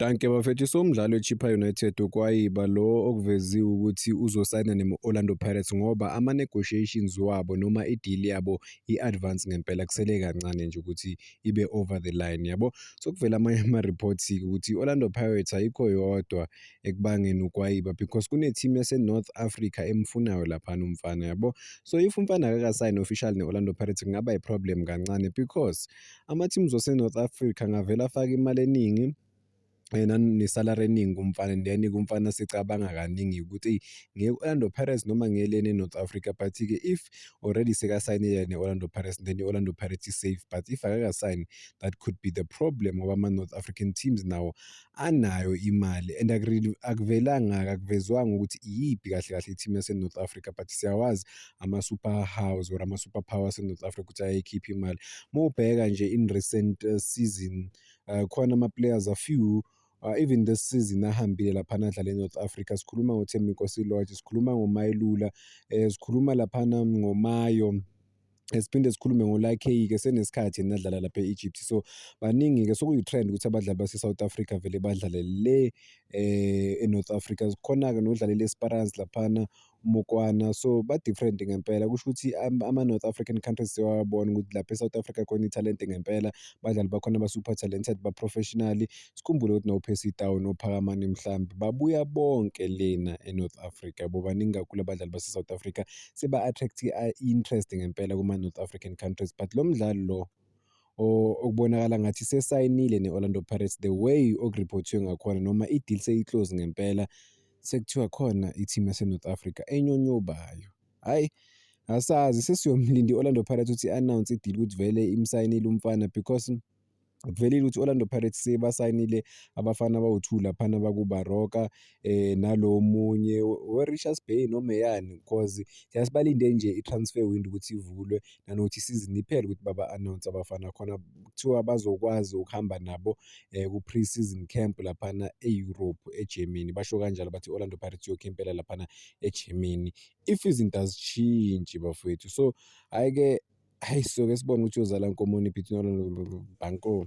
Danke bafethu somdlalo eChippa United ukwayiba lo okuveziwe ukuthi uzosayina ne-Orlando Pirates ngoba ama-negotiations wabo noma i-deal yabo i-advance ngempela kusele kancane nje ukuthi ibe over the line yabo. Sokuvela amanye ama-reports-ke ukuthi i-Orlando Pirates ayikho yodwa ekubangeni ukwayiba because kune-team yase-North Africa emfunayo laphana umfana yabo. So if umfana akakasayini official ne-Orlando Pirates kungaba i-problem kancane because Ama-teams waseNorth Africa angavele afake imali eningi yena nesalary eningi kumfana and then kumfana sicabanga kaningi ukuthi eyi ngiye-Orlando Pirates noma ngiye lena e-North Africa but-ke if already sekasayinile ne-Orlando Pirates then i-Orlando Pirates is safe but if akakasayini that could be the problem ngoba ama-North African teams nawo anayo imali and akuvelanga akuvezwanga ukuthi iyiphi kahle kahle i-team yasenorth africa but siyawazi ama-super house or ama-super power asenorth africa ukuthi ayekhipha imali uma ubheka nje in recent uh, season uh, khona ama-players a few Uh, even this season ahambile laphana adlala eNorth Africa sikhuluma ngoThembi Nkosi Lorch sikhuluma ngoMayelula eh sikhuluma laphana ngoMayo siphinde sikhulume ngolakheyi-ke senesikhathi enadlala lapha e-egypt so baningi-ke sokuyi-trend ukuthi abadlali base-south africa vele badlale le eh e-north africa khona-ke nodlalela e-sparans laphana umokwana so ba-different ngempela kusho ukuthi ama-north african countries sewabona ukuthi lapha e-south africa khona ithalente ngempela badlali bakhona ba-super talented ba-professionally sikhumbule ukuthi nopesi down nophakamane mhlawumbe babuya bonke lena e-north africa bobaningi kakhulu abadlali base-south africa seba-attract i-interest ngempela kuma-north african countries but lo mdlali lo okubonakala ngathi sesayinile ne-orlando pirates the way okuriphothiwe ngakhona noma i-deal seyiclose ngempela sekuthiwa khona i-team yasenorth africa enyonyobayo hhayi asazi sesiyomlinda i-orlando pirates ukuthi i-announce i-deal ukuthi vele imsayinile umfana because Kuvelile ukuthi Orlando Pirates sebasayinile abafana abawu-two laphana bakuBaroka eh, nalo omunye weRichards Bay noma eyani cause thina sibalinde nje i-transfer window ukuthi ivulwe nanokuthi isizini iphele ukuthi baba-announce abafana khona kuthiwa bazokwazi ukuhamba nabo eh, ku-pre-season camp laphana e-Europe eGermany basho kanjalo bathi Orlando Pirates iyokhempela laphana eGermany if izinto azishintshi bafowethu so hhayi-ke Hayi soke sibone ukuthi uzala nkomoni phithinono banko.